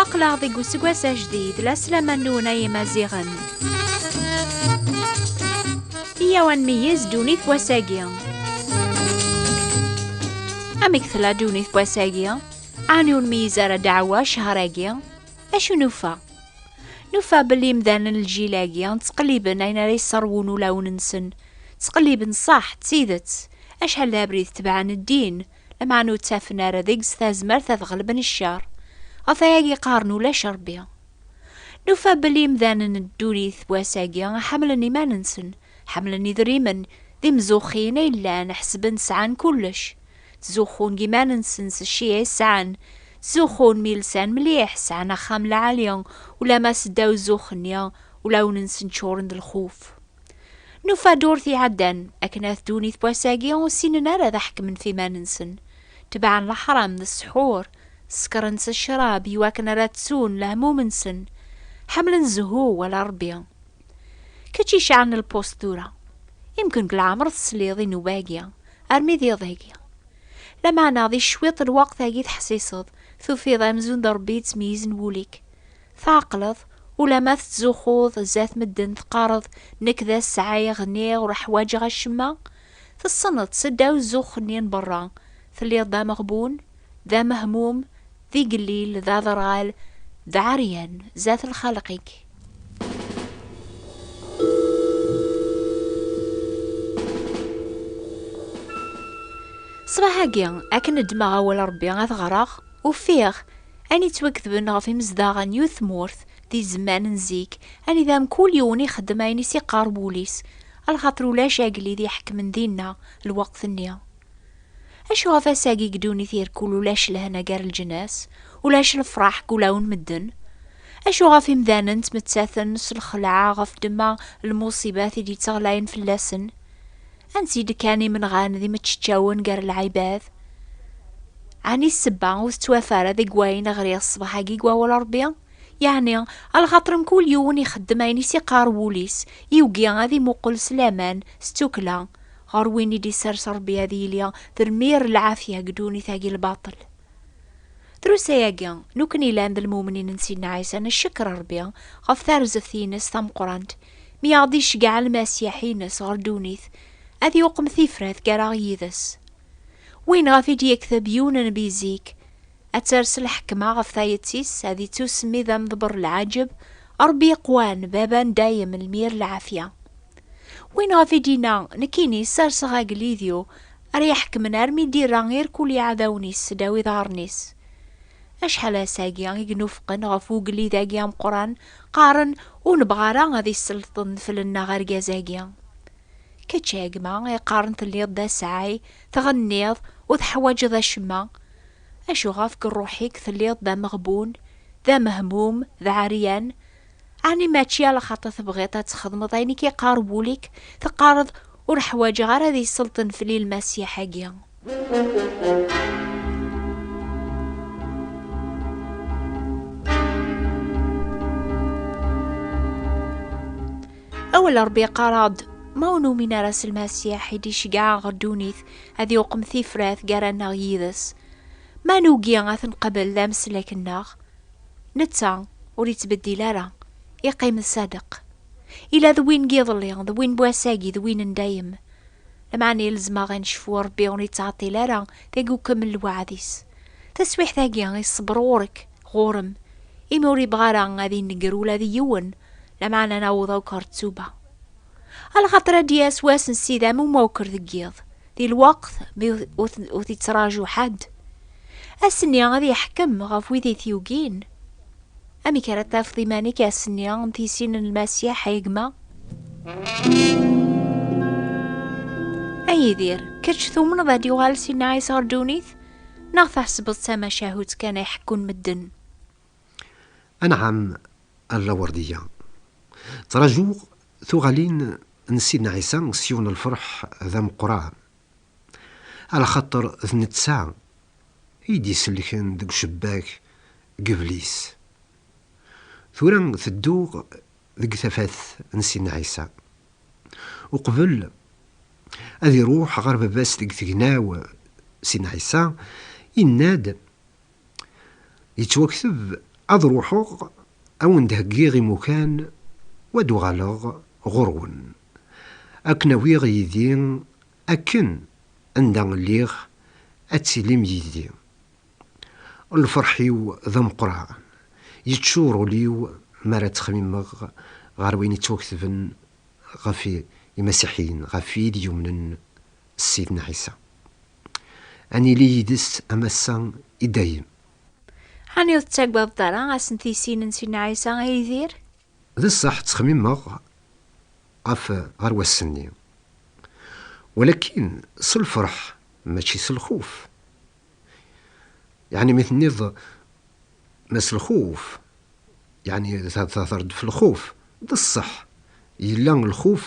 aql-aɣ deg useggas ajdid la slaman-nwen ay imaziɣen iyaw ad nmeyyez ddunit wass-agi amek tella ddunit wass-agi Ɛni ur meyyez ara ddeɛwa ccher-agi? Acu nufa? Nufa belli imdanen n lǧil-agi ttqelliben ayen ara yesserwun ulawen-nsen. Ttqelliben ṣṣeḥ, d tidet. Acḥal d abrid tebɛen ddin, lameɛna ur ttafen ara deg-s tazmert ad ɣelben ccer. Ɣef wayagi qqaren ulac Rebbi. Nufa belli imdanen n ddunit n wass-agi ḥemmlen iman-nsen, ḥemmlen idrimen, d imzuxxin ay llan, ḥesben sɛan kullec. Ttzuxxun deg iman-nsen s cci ay sɛan. Ttzuxxun mi lsan mliḥ, sɛan axxam lɛali, ulamma seddaw zzux-nni, ulawen-nsen ččuren d lxuf. Nufa ddurt iɛeddan, akken at ddunit n wass-agi ur ssinen ara ad ḥekmen ɣef iman-nsen. Tebɛen leḥram d ssḥur, ssekren s ccrab iwakken ara ttun lehmum-nsen. Ḥemmlen zzhu wala Rebbi. Kečč icaɛen lpust tura. Imken deg leɛmer tesliḍ i newwagi, armi d iḍ-agi. Lameɛna di cwiṭ lweqt-agi teḥsiseḍ, tufiḍ amzun d Rebbi yettmeyyizen wul-ik. Tɛeqleḍ, ulamma tettzuxxuḍ zdat medden teqqareḍ nekk d ass sɛiɣ, niɣ ur ḥwaǧeɣ acemma. Tessneḍ, seddaw zzux-nni n berra, telliḍ d ameɣbun, d amehmum, d igellil, d aderɣal, d aɛeryan zdat lxalq-ik. Ṣṣbeḥ-agi, akken ddmeɣ awal Rebbi ad ɣreɣ, ufiɣ ayen yettwaketben ɣef imezdaɣ n yiwet tmurt di zzman n zik, anida mkul yiwen ixeddem ayen i s-iqqar wul-is, lxaṭer ulac agellid iḥekmen dinna lweqt-nni. Acu ɣef ass-agi deg ddunit irkul ulac lehna gar leǧnas, ulac lefraḥ deg ulaw n medden? Acu ɣef imdanen ttmettaten s lxelɛa ɣef ddemma n lmuṣibat i d-yettɣlayen fell-asen? Ansi i d-kkan imenɣan d imeččeččawen gar lɛibad? Ɛni ssebba ur tettwafa ara deg wayen ɣriɣ ṣṣbeḥ-agi deg Wawal n Ṛebbi? Yeɛni, a lxaṭer mkul yiwen ixeddem ayen i s-iqqar wul-is, yugi ad imuqel s laman, s tukkla, Ɣer win i d-isers Rebbi ad yili termir lɛafya deg ddunit-agi n lbaṭel. Drus-ayagi, nukni yellan d lmumnin n Sidna Ɛisa ncekker Rebbi ɣef tarzeft-ines tameqqrant mi aɣ-d-iceggeɛ Lmasiḥ-ines ɣer ddunit ad yuqem tifrat gar-aɣ yid-s. Win ɣef i d-yekteb yiwen n nnbi zik, ad ters lḥekma ɣef tayet-is, ad ittusemmi d amḍebber lɛaǧeb, Ṛebbi iqwan, Baba n dayem, lmir lɛafya. Win ɣef i d-yenna, Nekkini serseɣ agellid-iw ara iḥekmen armi d-irra irkul iɛdawen-is sdaw iḍarren-is. Acḥal ass-agi i gnufqen ɣef ugellid-agi ameqqran, qqaren, Ur nebɣa ara ad isselṭen fell-nneɣ argaz-agi. Kečč, a gma, iqqaren telliḍ d asaɛay, tɣenniḍ, ur teḥwaǧeḍ acemma, Acu ɣef deg rruḥ-ik telliḍ d ameɣbun, d amehmum, d aɛeryan? Ɛni mačči ala xaṭi tebɣiḍ ad txedmeḍ ayen i k-iqqar wul-ik, teqqareḍ, Ur ḥwaǧeɣ ara ad yesselṭen fell-i Lmasiḥ-agi? Awal n Ṛebbi iqqar-aɣ-d, Ma ur numin ara s Lmasiḥ i d-iceggɛeɣ ɣer ddunit, ad yuqem tifrat gar-aneɣ yid-s, ma nugi ad t-nqabel d ameslak-nneɣ, netta ur yettbeddil ara, iqqim d sadeq. Ila d win n yiḍelli, d win n wass-agi, d win n dayem. Lameɛna ilzem-aɣ ad necfu Rebbi ur yettɛeṭṭil ara deg ukemmel lweɛd-is. Taswiɛt-agi, iṣebber ɣur-k, ɣur-m, imi ur yebɣi ara ad ineggr ula d yiwen Lameɛna naweḍ akk ɣer ttuba. A lxaṭer ad d-yas wass n sida mu mawker deg yiḍ, di lweqt mi ur t-ittraǧu ḥedd. Ass-nni ad yeḥkem ɣef wid i t-yugin. Amek ara tafeḍ iman-ik ass-nni n tisin n Lmasiḥ, ay gma? A Yidir, kečč tumneḍ ad d-yuɣal Sidna Ɛisa ɣer ddunit, neɣ tḥesbeḍ d tamacahut kan ay ḥekkun medden? Anɛam a lawerdiya. Ttrajuɣ tuɣalin n Sidna Ɛisa s yiwen n lferḥ d ameqqran. Ala xaṭer d netta i d-isellken deg ucebbak n yiblis. Tura tedduɣ deg tafat n Sidna Ɛisa. Uqbel ad iruḥ ɣer Baba-s deg tegnaw, Sidna Ɛisa yenna-d Yettwakteb ad ruḥeɣ a wen-d-heggiɣ imukan u ad uɣaleɣ ɣur-wen, a ken-awiɣ yid-i akken anda lliɣ ad tilim yid-i. Lferḥ-iw d ameqqran, yeččur ul-iw mi ara ttxemmimeɣ ɣer wayen yettwaktben ɣef Imasiḥiyen, ɣef wid yumnen s Sidna Ɛisa. Ad nili yid-s am ass-a i dayem. Ɛni ur tettagadeḍ ara ass n tisin n Sidna Ɛisa, a Yidir? D ṣṣeḥ ttxemmimeɣ ɣef ɣer wass-nni, walakin s lfeṛḥ mačči s lxuf. Yeɛni mi tenniḍ ma s lxuf, yeɛni theddreḍ ɣef lxuf. D ṣṣeḥ, yella lxuf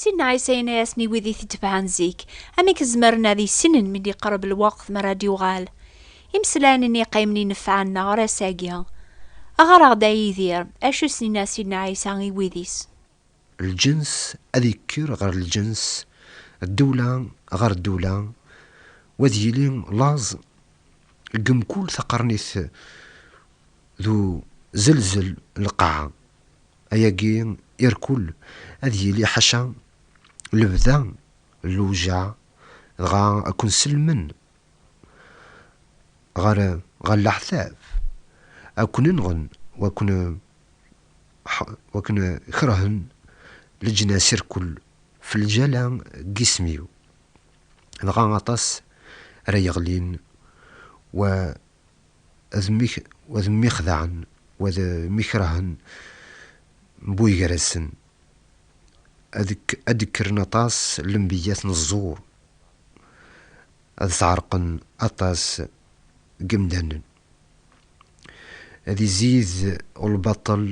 Sidna Ɛisa yenna-yasen i wid i t-itebɛen zik, amek zemren ad issinen mi d-iqreb lweqt mi ara d-yuɣal? Imeslayen-nni iqqimen i nefɛen neɣ ar ass-agi. Ɣer-aɣ-d a Yidir, acu s-yenna Sidna Ɛisa i wid-is? Lǧens ad yekker ɣer lǧens, ddewla ɣer ddewla, u ad yili laẓ deg mkul taqernit d uzelzel n lqaɛa. Ayagi irkul ad yili ḥaca lebda n lewjaɛ, dɣa ad ken-sellmen ɣer ɣer leɛtab, ad ken-nɣen wakken wakken kerhen leǧnas irkul f lǧala n yisem-iw, dɣa aṭas ara yeɣlin wa. Wa d mmi xedɛen, wa d mmi kerhen mbuy gar-asen. Ad d-kkren aṭas n lembiyyat n ẓẓur, ad sɛerqen aṭas n yemdanen. Ad izid lbaṭel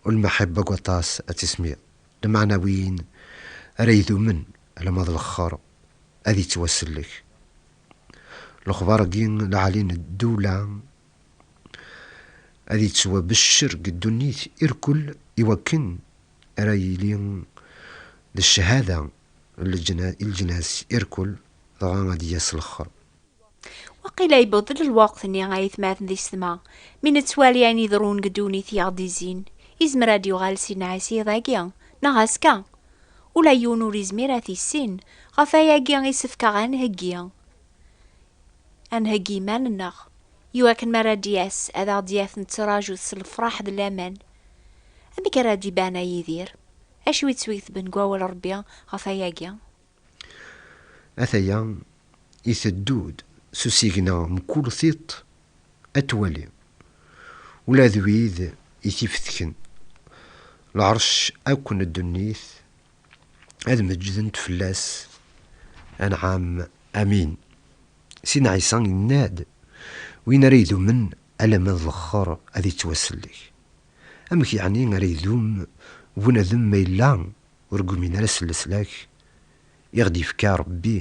u lmeḥibba deg waṭas n tismiḍ, lmeɛna win ara idumen alamma d lexxer ad yettwasellek. Lexbar-agi lɛali n ddewla ad yettwabeccer deg ddunit irkul i wakken ara yili d cchada i leǧnas irkul dɣa ad d-yas lexxer. Waqila yewweḍ-d lweqt-nni ay atmaten di setma, mi nettwali ayen iḍerrun deg ddunit i aɣ-d-izzin, yezmer ad d-yuɣal Sidna Ɛisa iḍ-agi neɣ azekka, Ula yiwen ur izmir ad t-issin, ɣef wayagi i sefkeɣ ad nheggi, ad nheggi iman-nneɣ, i wakken mi ara d-yas ad aɣ-d-yaf nettraǧu-t s lefraḥ d laman. Amek ara d-iban a Yidir? Acu i ttwiketben deg wawal Rebbi ɣef wayagi? Ataya iteddu-d s usigna mkul tiṭ Ad twali ula d wid i t-ifetken lɛerc akk n ddunit, ad meǧǧdent fell-as, anɛam, amin. Sidna Ɛisa yenna-d, Win ara idumen alamma d lexxer ad ittwasellek. Amek yeɛni ara idum bunadem ma yella ur gmin ara s leslak i ɣ-d-yefka Rebbi?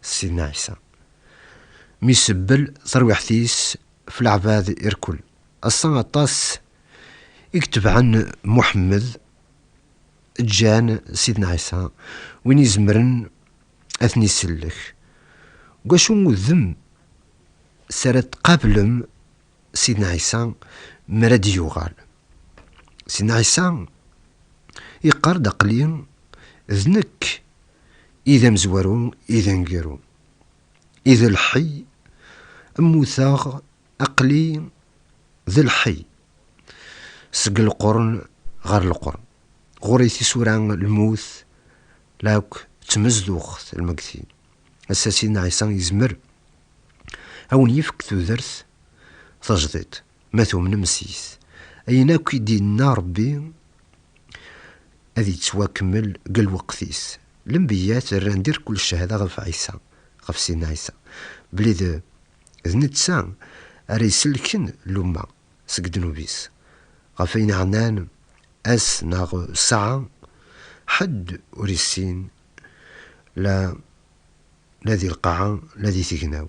Sidna Ɛisa mi isebbel tarwiḥt-is f leɛbad irkul. Ass-a aṭas i itebɛen Muḥemmed ǧǧan Sidna Ɛisa win izemren ad ten-isellek. Deg wacu udem s ara tqablem Sidna Ɛisa mi ara d-yuɣal? Sidna Ɛisa yeqqar-d aql-i d nekk i d amezwaru i d aneggaru i d lḥey mmuteɣ aqli d lḥey seg lqern ɣer lqern ɣur-i tisura lmut la akk d tmezduɣt lmegti ass-a Sidna Ɛisa yezmer a wen-yefk tudert tajdiṭ. Ma tumnem seg-s, ayen akk i d-yenna Rebbi ad yettwakemmel deg lweqt-is. Lembiyat rran dirkul cchada ɣef Ɛisa, ɣef Sidna Ɛisa, belli d d netta ara isellken lumma seg ddnub-is. Ɣef ayen iɛnan ass neɣ ssaɛa, ḥedd ur yessin, la la di lqaɛa, la di tegnaw.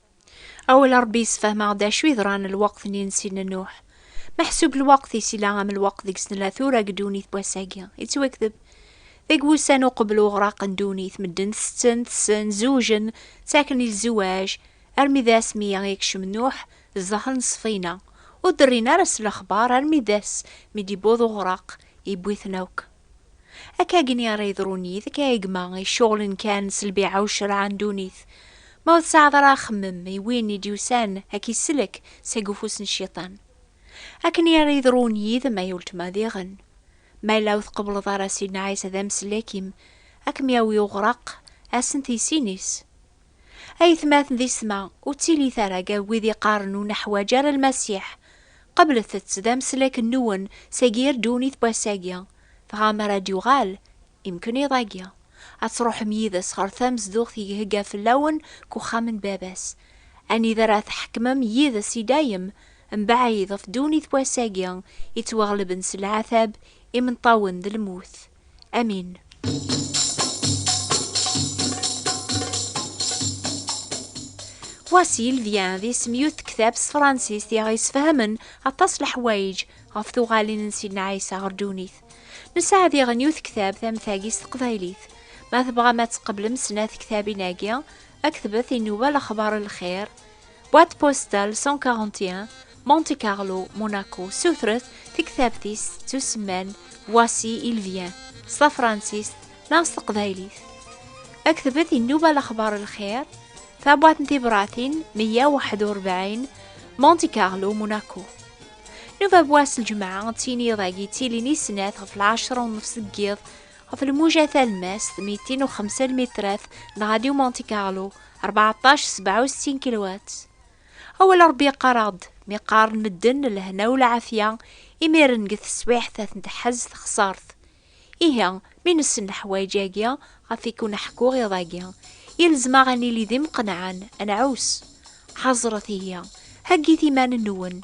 Awal Ṛebbi yessefhem-aɣ-d acu yeḍran lweqt-nni n Sidna Nuḥ. Meḥsub lweqt-is yella am lweqt deg-s nella tura deg ddunit n wass-agi. Yettwakteb deg wussan uqbel uɣraq n ddunit, medden ttetten, tessen, zewjen, ttaken i lzewaj, armi d ass mi yekcem Nuḥ zdaxel n ṣṣfina. Ur d-rrin ara s lexbar armi d ass mi d-yewweḍ uɣraq, yewwi-ten akk. Akka gni ara yeḍrun yid-k ay gma iceɣlen kan s lbiɛa u ccreɛ n ddunit. Ma ur tesɛiḍ ara axemmem i win i d-yusan a k-isellek seg ufus n cciṭan. Akken i ara yeḍrun yid-m ay uletma diɣen. Ma yella ur tqebbleḍ ara Sidna Ɛisa d amsellek-im, a kem-yawi uɣraq, ass n tiysin-is. Aytmaten di ssma, ur ttilit ara gar wid iqqaren ur neḥwaǧ ara Lmasiḥ. Qablet-tt d ameslak nwen seg yir ddunit n wass-agi, dɣa mi ara d-yuɣal, imken iḍ-agi, ad truḥem yid-s ɣer tamezduɣt i ihegga fell-awen deg uxxam n Baba-s, anida ara tḥekmem yid-s i dayem, mebɛid ɣef ddunit n wass-agi yettwaɣelben s leɛtab, imenṭawen d lmut. امين Voici, il vient d isem yut tektab s tefransist i aɣ-yesfehmen aṭas leḥwayeǧ ɣef tuɣalin n Sidna Ɛisa ɣer ddunit. Nesɛa diɣen yut tektab tametagi s teqbaylit. Ma tebɣam ad tqeblem snat tektabin-agi, aktbet inuba lexbar lxir, Boîte postale 141 Monte Carlo, Monaco, sutret tiktabt-is ttusemman Voici il vient s tafransist neɣ s teqbaylit. Aktbet inuba lexbar lxir, tabwat n tibratin 141 Monte Carlo, Monaco. Nuba bwas lǧemɛa d tiniḍ-agi ttilin i snat ɣef lɛecra u nnefs deg yiḍ Ɣef lmuja talmast, 205 lmitrat n Radio Monte Carlo, 14 67 kilowat. Awal Ṛebbi yeqqar-aɣ-d, mi qqaren medden lehna u lɛafya, imiren deg teswiɛt ad ten-teḥaz texṣart. Ihi, mi nessen leḥwayeǧ-agi ɣef i ken-ḥkuɣ iḍ-agi, yelzem-aɣ ad nili d imqenɛen, ad nɛus. Ḥaẓret ihi, heggit iman-nwen,